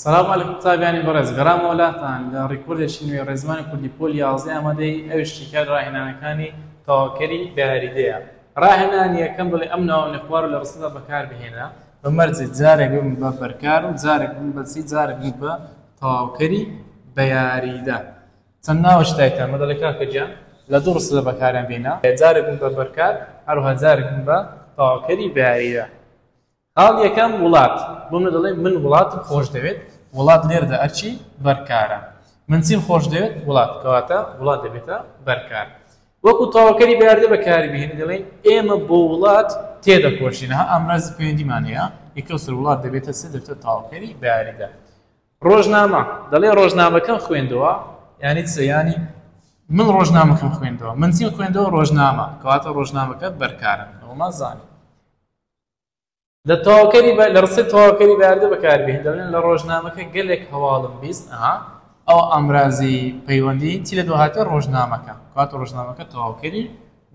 سلام علیکم قوتابیانی بەڕێز گەڕامەوە لاتان لە ڕیکۆردێکی نوێ ڕێزمانی کوردی پۆل یازدە ئامادەی ئەویش شیکار ڕاهێنانەکانی تەواوکەری بە یاریدەیە ڕاهێنان یەکەم بڵێ ئەم ناوانە خوار لە ڕستەدا بەکاربهێنە بە مەرجێ جارێک بم بە بەرکار و جارێک بم بەسی جارێک بم بە تەواوکەری بە یاریدە چەند ناوەش دایتان مەدەڵی کاکە گیان لە دوو ڕستەدا بەکاریان بێنە جارێک بم بە بەرکار هەروها جارێک بم بە تەواوکەری بە یاریدە خاڵ یەکەم وڵات بۆ منە دەڵێ من وڵاتم خۆش دەوێت وڵات لێرەدا ئەرچی بەرکارە من چیم خۆش دەوێت وڵات کەواتە وڵات دەبێتە بەرکار وەکو تەواوکەری بەیاردە بەکاری بهێنی دەڵێن ئێمە بۆ وڵات تێدەکۆشینە ئامرازی پەیوەندیمان هەیە یەکەو سەر وڵات دەبێتە سێ دەبێتە تەواوکەری بەیاریدا ڕۆژنامە دەڵێ ڕۆژنامەکەم خوێندەوە یانی سەیانی من ڕۆژنامەکەم خوێندەوە من چیم خوێندەوە ڕۆژنامە کەواتە ڕۆژنامەکە بەرکارە ئەومان زانانی لە تەواوکەری بە لە ڕستەی تەواوکەری بەیاردە بەکاربێت دەڵێن لە ڕۆژنامەکە گەلێک هەواڵم بیست ئەها ئەو ئامرازی پەیوەندی چی لە دوهاتێ ڕۆژنامەکە کات ڕۆژنامەکە تەواوکەری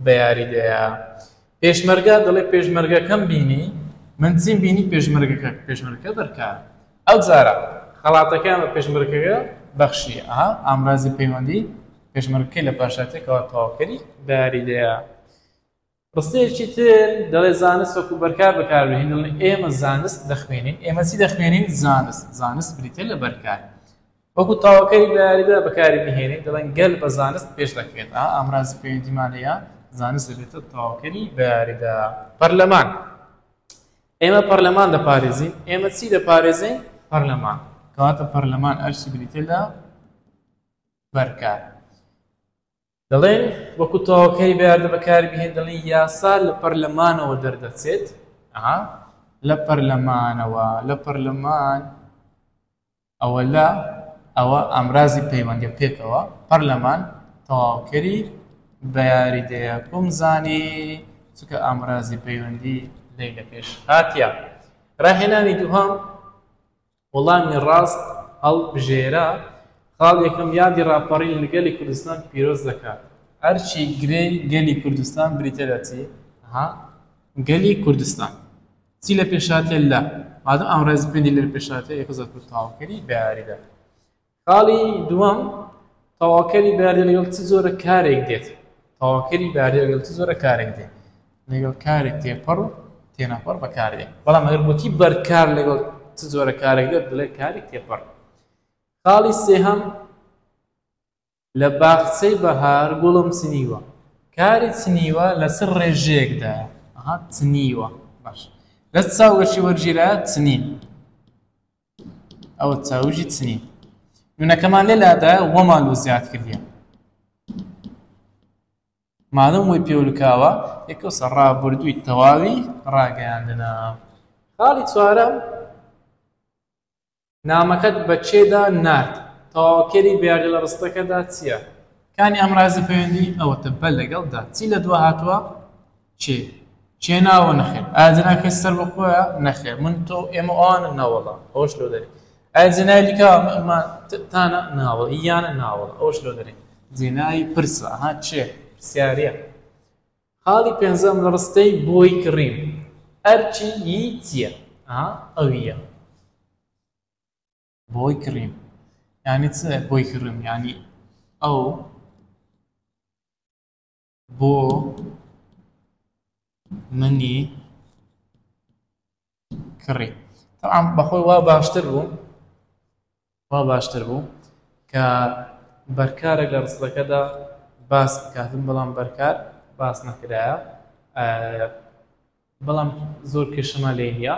بەیاریدەیە پێشمەرگا دەڵێ پێشمەرگەکەم بینی من چیم بینی پێشمەرگەکە پێشمەرگەکە دەرکار ئەو جارە خەڵاتەکان بە پێشمەرگەکە بەخشی ئەها ئامرازی پەیوەندی پێشمەرگەکەی لە پاشاتێکەوە تەواوکەری بەیاریدەیە ڕستەیەکی تر دەڵێ زانست وەکو بەرکار بەکاربهێن دەڵێ ئێمە زانست دەخوێنین ئێمە چی دەخوێنین زانست زانست بریتە لە بەرکار وەکو تاوەکەی لەیاریدا بەکاری بهێنین دەڵێن گەل بە زانست پێش دەکرێت ئامرازی پەیوەندیمان هەیە زانست دەبێتە تاوەکەری بەیاریدا پەرلەمان ئێمە پەرلەمان دەپارێزین ئێمە چی دەپارێزین پەرلەمان کەواتە پەرلەمان ئەرشی بریتە لە بەرکار دەڵێن وەکو تاوەکەی بەیاردە بەکاربهێن دەڵێن یاسا لە پەرلەمانەوە دەردەچێت لە پەرلەمانەوە لە پەرلەمان ئەوە لە ئەوە ئامرازی پەیوەندی پێکەوە پەرلەمان تەواوکەری بە یاریدەیە بم زانی چکە ئامرازی پەیوەندی لی لە پێش هااتە ڕاهێنانی دووهام وەڵامی ڕاست هەڵبژێرە خاڵ یەکەم یادی ڕاپەڕین لە گەلی کوردستان پیرۆز دەکات. ئەرکی گرێی گەلی کوردستان بریتیە لە چی؟ ها گەلی کوردستان چی لە پێشهاتیە لە مادەم ئەم ڕێزپێندی لە پێشهاتیە یەکە زۆر کورتاوکەری بە یاریدا. خاڵی دووەم تەواوکەری بەیاردە لەگەڵ چ جۆرە کارێک دێت تەواوکەری بەیاردە لەگەڵ چ جۆرە کارێک دێت لەگەڵ کارێک تێپەڕ و تێنەپەڕ بەکاردێت بەڵام ئەگەر گوتی بەرکار لەگەڵ چ جۆرە کارێک دێت بڵێ کارێک تێپەڕ خاڵی سێهەم لە باخچەی بەهار گوڵم سنیوە کاری چنیوە لەسەر ڕێژەیەکدا ئەها چنیوە باش لە چاوگەشی وەرگیرا چنین ئەوە چاوژی چنی نونەکەمان لێ لادا وەمان و زیاد کردە مادەم وی پێولکاوە یەکە سە ڕابردووی تەواوی ڕاگەیاندنا خاڵی چوارە نامەکەت بە چێدا نرد تاواکەری بیاردە لە ڕستەکەدا چییە کانی ئەمرازی پەیوەندی ئەوەتە بە لەگەڵدا چی لە دو هاتووە چێ چێ ناوە نەخێر ئایا جناکە سەر بە خۆیە نەخێر من تۆ ئێمە ئەوانە ناوەڵا ئەوش لۆ دەری ئایا جنای دیکە تانە ناوە یانە ناوەڵ ئەوش لۆ دەری جێنایی پرسە ها چێ پرسیارە خاڵی پێنجەم لە ڕستەی بۆی کڕیم ئەرچی ی چییە ئەویە بۆی کڕیم ینی چ بۆی کڕم ینی ئەو بۆ منی کڕی تەعام بەخۆی وا باشتر بوو وا باشتر بوو کە بەرکارێک لە ڕستەکەدا باس بکاتن بەڵام بەرکار باس نەکرایە بەڵام زۆر کێشەمان لێ نییە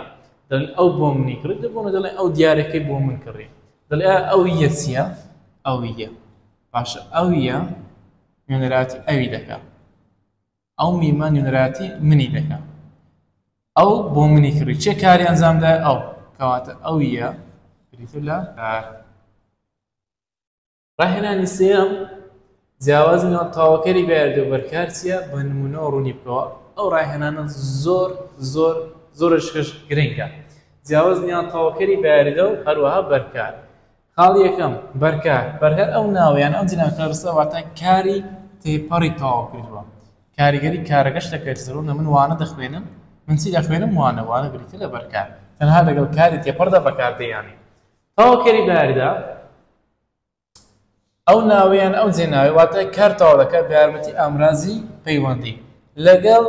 دەڵێن ئەو بۆ منی کڕی دەبوون و دەڵێن ئەو دیارەکەی بۆ من کڕی دەڵێ ئەو یە چییە ئەو یە باشە ئەو یە نوێنەراتی ئەوی دەکە ئەو میمە نوێنەراتی منی دەکە ئەو بۆ منی کڕی چێ کاری ئەنجامدا ئەو کەواتە ئەو یە بریتو لە ڕاهێنانی سێیەم، جیاوازی نێوان تەواوکەری بەیاردی و بەرکار چییە؟ بە نموونەوە ڕوونی بکەوە. ئەو ڕاهێنانە زۆر زۆر زۆرشکش گرنگە. جیاوازی نێوان تەواوکەری بەیاریدە و هەروەها بەرکار. خاڵی یەکەم، بەرکار. بەرکار ئەو ناوە یان ئەو جنێوە کە دەرسە واتە کاری تێپەڕی تەواو کردووە. کاریگەری کارەکەش دەکەوێتە سەر ڕوونە من وانە دەخوێنم، من چی دەخوێنم؟ وانە. وانە بریتییە لە بەرکار. تەنها لەگەڵ کاری تێپەڕدا بەکاردێنێ. تەواوکەری بەیاریدە ئەو ناوە یان ئەو جێناوەی واتە کار تەواو دەکات بە یارمەتی ئامرازی پەیوەندی لەگەڵ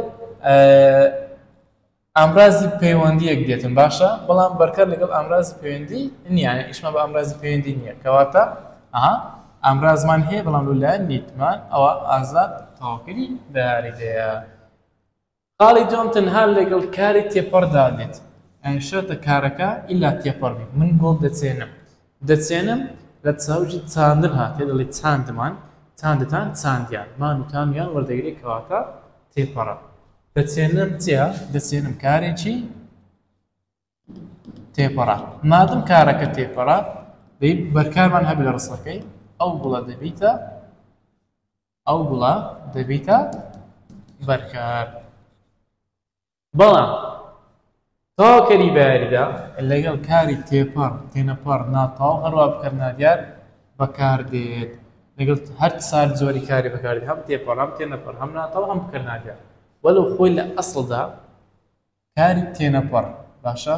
ئامرازی پەیوەندیەک دێتن باشە بەڵام بەرکار لەگەڵ ئامرازی پەیوەندی نییە ئیشمە بە ئامرازی پەیوەندی نییە کەواتە ئەها ئامرازمان هەیە بەڵام لەلایەن نیتمان ئەوە ئازاد تەواوکەری داریدەیە خاڵی دووەم تەنها لەگەڵ کاری تێپەڕدا دێت ئەی شەرتە کارەکە ئیلا تێپەڕ بێت من گۆڵ دەچێنم دەچێنم لە چاویی چاندن هاتێ دەڵێ چاندمان چاندتان چاندیان مان و تام یان وەردەگرێ کەواتە تێپەڕە دەچێنم چیا دەچێنم کارێکی تێپەڕە مادم کارەکە تێپەڕە بەرکارمان هەبی لە ڕسەکەی ئەو گوڵە دەبیتە ئەو گوڵە دەبیتە بەرکار بەڵام تەواوکەری بەیاریدا لەگەڵ کاری تێپەڕ تێنەپەڕ ناتەواو هەروە بکەر نادیار بەکاردێت لەگەڵ هەر سار زۆری کاری بەکارد هەم تێپەڕ هەم تێنەپەڕ هەم ناتەواو هەم بکەر نادیار وەلو خۆی لە ئەسڵدا کاری تێنەپەڕ باشە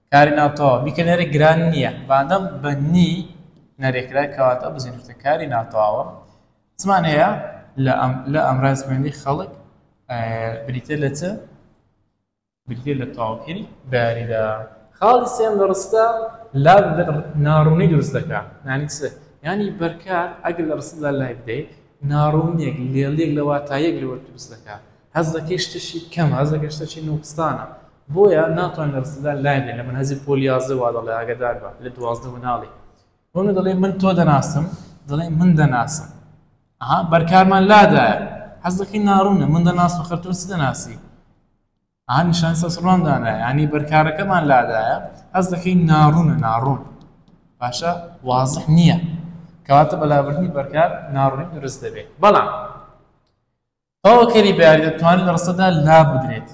کاری ناتەواو، بیکەنەرێک گران نییە، بەندەڵ بە نی نەرێکرا، کەواتە بزینووتە کاری ناتەواوە، چمان هەیە لە ئەم ڕێزبێنی خەڵک بریتە لە چ؟ بریتە لە تەواوکەری بەیاریدا. خاڵی سێم لە ڕستە لا ناڕوونی دروست دەکا، یانی چ؟ یانی بەرکار ئەگەر لە ڕستەدا لای بدەی، ناڕوونییەک، لێڵییەک لە واتاییەک لەوە دروست دەکا، هەست دەکەی شتێکی کەمە، هەست دەکەی شتێکی نووقسانە، بۆیە ناتوانێت لە ڕستەدا لای بێ، لە مەنهەجی پۆل یازدە وا دەڵێ ئاگەدار بە، لە دوازدە مناڵی. هونە دەڵێ من تۆ دەناسم، دەڵێ من دەناسم. ئەها بەرکارمان لادایە، هەست دەکەی ناڕوونە، من دەناسم ئەخەر تۆ چ دەناسی؟ ئەها نیشان سەسڕوان دانایە، یانی بەرکارەکەمان لادایە، هەست دەکەی ناڕوونە، ناڕوون باشە وازح نییە، کەواتە بەلابردنی بەرکار ناڕوونی دروست دەبێ. بەڵام تەواوکەری بە یاریدەر توانی لە ڕستەدا لابدرێت،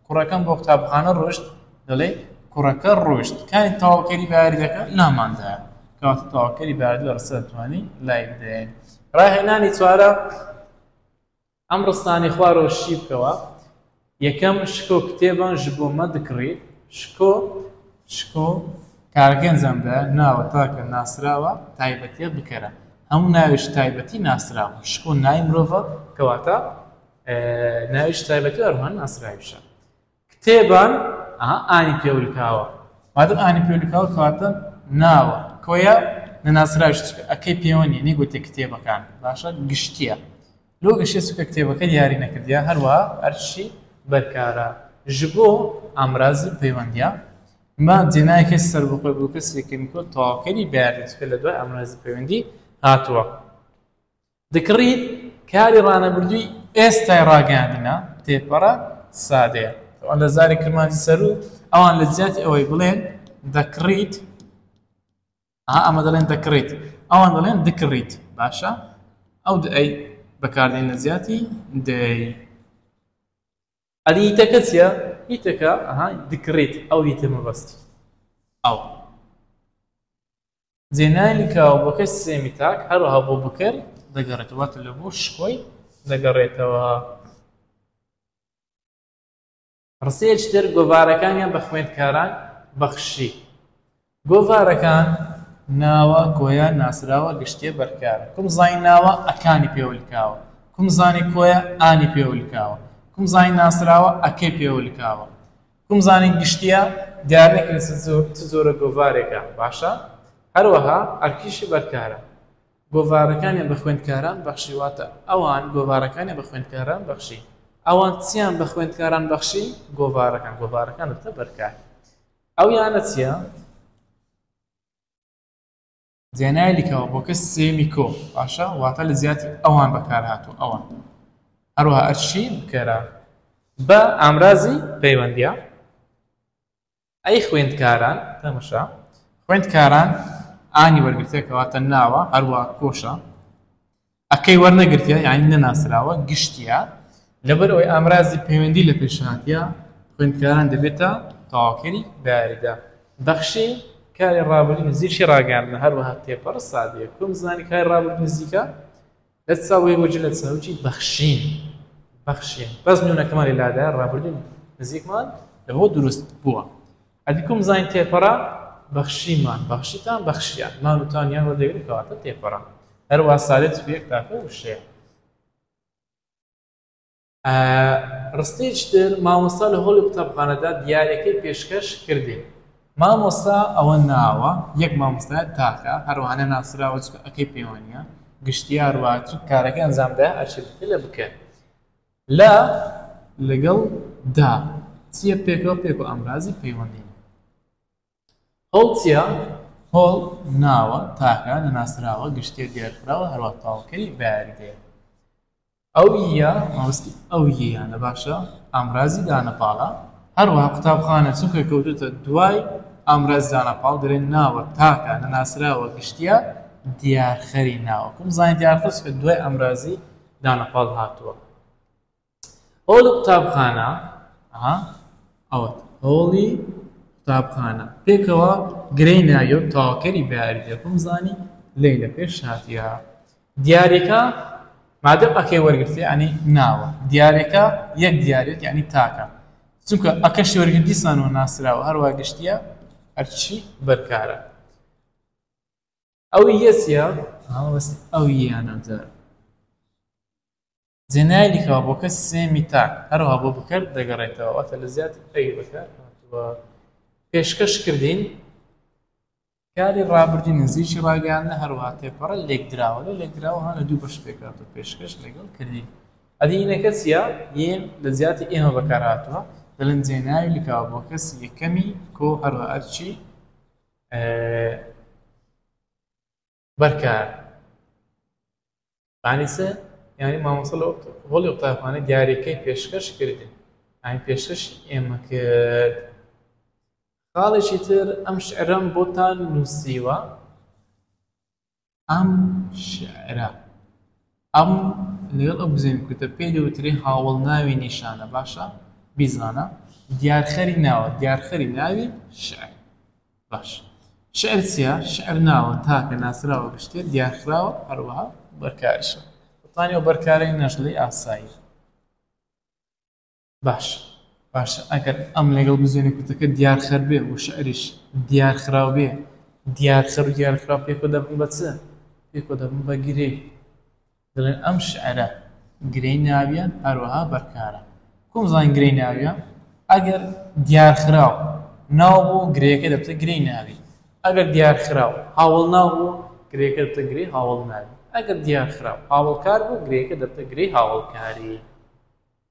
کوڕەکەم بۆ قوتابخانە ڕۆشت دەڵێ کوڕەکە ڕۆشت کانی تەواوکەری بە یاریدەکە لاماندایە کەواتە تەواوکەری بە یاریدە لە ڕستەدا توانی لایبدەێت ڕاهێنانی چوارە ئەم ڕستانەی خوارەوە شی بکەوە یەکەم، شکۆ کتێبان ژ بۆ مە دکڕی، شکۆ. شکۆ کارگەنجان دە ناوە تاکە ناسراوە تایبەتیە بکەرە، هەموو ناوێژ تایبەتی ناسراوە، شکۆ ناوی مرۆڤە کەواتە ناوێژ تایبەتی ئەروها ناسراویشە. کتێبان ئەها ئانی پێولکاوە مادەم ئانی پێولکاوە کەواتە ناوە کۆیە نەناسراویش چکە ئەکەی پێوە نیە نەیگوتێ کتێبەکان باشە گشتیە. لۆ گەشەی سوکە کتێبەکە دیاری نەکردیە هەروەها ئەرشی بەرکارە ژبۆ ئامرازی پەیوەندیە مە جێنای کەس سەربەخۆی بۆ کەسی کەمیکۆ تەواوکەری بەیاری چکە لە دوای ئامرازی پەیوەندی هاتووە دکڕی کاری ڕانەبردووی ئێستای ڕاگەاندنە تێپەڕە سادەیە ئەوان لە زاری کرمانجی سەروو ئەوان لە جیاتی ئەوەی بڵێن دەکڕیت ئەها ئەمە دەڵێن دەکڕیت ئەوان دەڵێن دکڕیت باشە ئەو ئەی بەکاردێن لە زیاتی دەی ئەدی هیتەکە چیە هیتەکە ئەها دکڕیت ئەو هیتە مەبەستی ئەو زێنانی کاوەکەی سێمی تاک هەروەها بۆ بکەر دەگەڕێت واتە لە بۆ شکۆی دەگەڕێتەوە ڕستەیەکی تر گۆڤارەکانیان بە خوێندکاران بەخشی. گۆڤارەکان ناوە کۆیە ناسراوە گشتیە بەرکارە کوم زای ناوە ئەکانی پێولکاوە کوم زانی کۆیە ئانی پێولکاوە کوم زای ناسراوە ئەکەی پێولکاوە کوم زانی گشتیە دیارنەکرێت چ جۆرە گۆڤارێکە باشە هەروەها ئەرکیشی بەرکارە گۆڤارەکانیان بە خوێندکاران بەخشی واتە ئەوان گۆڤارەکانیان بە خوێندکاران بەخشی ئەوان چیان بە خوێندکاران بەخشی گۆڤارەکان گۆڤارەکان دەبتە بەرکار ئەو یانە چیە زێنای لیکەوە بۆ کەس سێمی کۆ باشە واتە لە زیاتی ئەوان بەکار هاتوو ئەوان هەروە ئەرشی بکەرە بە ئامرازی پەیوەندیە ئەی خوێندکاران تەمشا خوێندکاران ئانی وەرگرتە کەواتە ناوە هەروە کۆشە ئەکەی وەرنەگرتە یعنی نەناسراوە گشتیا لەبەرەوەی ئامرازی پەیوەندی لە پێشهاتە خوێندکاران دەبێتە تاواکەری بەیاریدا بەخشی کاری ڕابردی نزیشی ڕاگەاندنە هەروەها تێپەڕ سادەیە کوم زانی کاری ڕابرد نزیکە لە سا وەی وە جلە سا وچی بەخشین بەخشین بەس نونەکەمان لە لادا ڕابردون نزیکمان لە هۆ دروست بووە ئەدیکم زین تێپەڕە بەخشیمان بەخشیتان بەخشیان مانوتان یان وە دەگرێت کەواتە تێپەڕە هەروە سالێت پێک تاکە وشەیە ڕستەیەکی تر مامۆستا لە هۆڵی قوتابخانەدا دیارەکەی پێشکەش کردێ مامۆستا ئەوە ناوە یەک مامۆستا تاکە هەروانە ناسراوە ئەەکەی پەیوانە گشتیار واچوو کارەکە ئەنجامدا ئەچێتە لە بکە لە لەگەڵ دا چیە پێکەوە پێک و ئەمرازی پەیوەندی هۆڵتیا، هۆڵ، ناوە تاکە نەناسراوە گشتییە دیارکراوە هەروەک تاوەکەی بەیاریدەیە. ئەوییە، مەبەستی ئەوییەیانە باشە، ئامرازی دانەپاڵە، هەروەها قوتابخانە، چونکە کەوتووتە دوای ئامرازی دانەپاڵ دەرێ ناوە تاکە نەناسراوە گشتییە دیارخەری ناوە. کوم زانیدیارخەر چونکە دوای ئامرازی دانەپاڵ هاتووە. هۆڵی قوتابخانە، ئەها ئەوەت، هۆڵی قوتابخانە، پێکەوە گرێی ناوی و تەواوکەری بەیاری دێت، بمزانی لەیلە پێش هاتیە. دیاریەکە، مادەم ئەکەی وەرگرتیە یانی ناوە، دیاریەکە، یەک دیاریەک یانی تاکە، چونکە ئەکەشی وەرگرت دیسان و ناسراوە، هەروا گشتیە ئەرکی بەرکارە. ئەوییە چیە؟ ئەوییە ئەمجار. جێنایلی کە بۆکە سێمی تاک هەروەها بۆ بکەر دەگەڕێتەوە واتە لە زیاد ئەوی بەکار هاتووە پێشکەش کردین کاری ڕابردی نزیکی ڕاگەیاندنە هەروەها تێپەڕە لێکدراوە لە لێکدراوە هەە دوو بەش پێکات و پێشکەش لەگەڵ کردین ئەدینەکە چیە یەن لە زیاتی ئێمە بەکار هاتووە دەلن جێناوی لکاوە بۆ کەس یەکەمی کۆ هەروە ئەرچی بەرکار یعنی چ؟ یعنی مامۆستا لە هۆڵی قوتابخانە دیاریکەی پێشکەش کردن ئاین پێشکەشی ئێمە کرد خاڵێکی تر ئەم شعرەم بۆتان نووسیوە ئەم شعرە ئەم لەگەڵ ئەو بزێوی کورتە پێی دەوترێ هاوەڵناوی نیشانە، باشە بیزانە، دیارخەری ناوە، دیارخەری ناوی شیعر. باش شیعر چییە؟ شیعر ناوە تاکە ناسراوە بە شتێ دیارخراوە هەروەها بەرکاریشە. بەتانیەوە بەرکارەی نەژلی ئاسایی. باش باشە ئەگەر ئەم لەگەڵ بزوێنە کورتەکە دیارخەر بێ و شعریش دیارخراو بێ، دیارخەر و دیارخراو پێکۆ دەبن بە چ؟ پێکۆ دەبن بە گرێ. دەڵێن ئەم شعرە گرێی ناویە هەروەها بەرکارە. کۆم زانین گرێی ناویە؟ ئەگەر دیارخراو ناو بوو گرێیەکە دەبتە گرێی ناوی. ئەگەر دیارخراو هاوەڵناو بوو گرێیەکە دەبتە گرێی هاوەڵناوی. ئەگەر دیارخراو هاوەڵکار بوو گرێیەکە دەبتە گرێی هاوەڵکاری.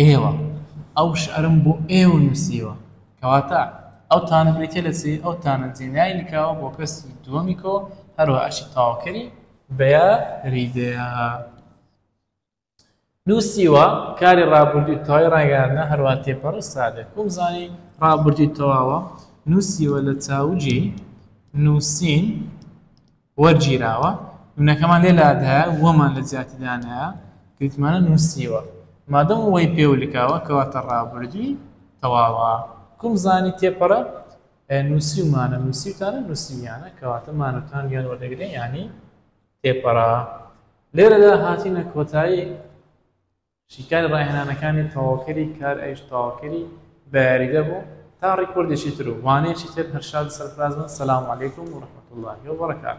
ئێوە، ئەو شعرەم بۆ ئێوە نووسیوە. کەواتە، ئەو تانە بریتییە لە چی؟ ئەو تانە جێنایەی لکاوە بۆ کەسی دووەمی کۆ، هەروەها ئەرکی تەواوکەری بە یاریدەیە. نووسیوە، کاری ڕابوردووی تەواوی ڕاگەیاندنە، هەروەها تێپەڕ و سادەیە. کومزانی ڕابوردووی تەواوە. نووسیوە، لە چاوگی نووسین وەرگیراوە، نمونەکەمان لێ لادایە و وەمان لە جیاتی دانایە گریتمانە نوسیوە، مادەم وەی پێو لکاوە کەواتە ڕابردووی تەواوە، کوم زانی تێپەرە نوسیومانە نوسیوتانە نوسیویانە کەواتە مان و تان وێن وەردەگرێ یانی تێپەرە لێرەدا هاتینە کۆتایی شیکاری ڕاهێنانەکانی تەواوکەری کار ئەیش تەواوکەری بە یاریدە بوو تا ڕیکۆردێکی تر و وانەیەکی تر هەر شاد سەرفراز بن سەلام علیکم و ڕەحمەتوڵڵاهی وبەڕەکاتوو.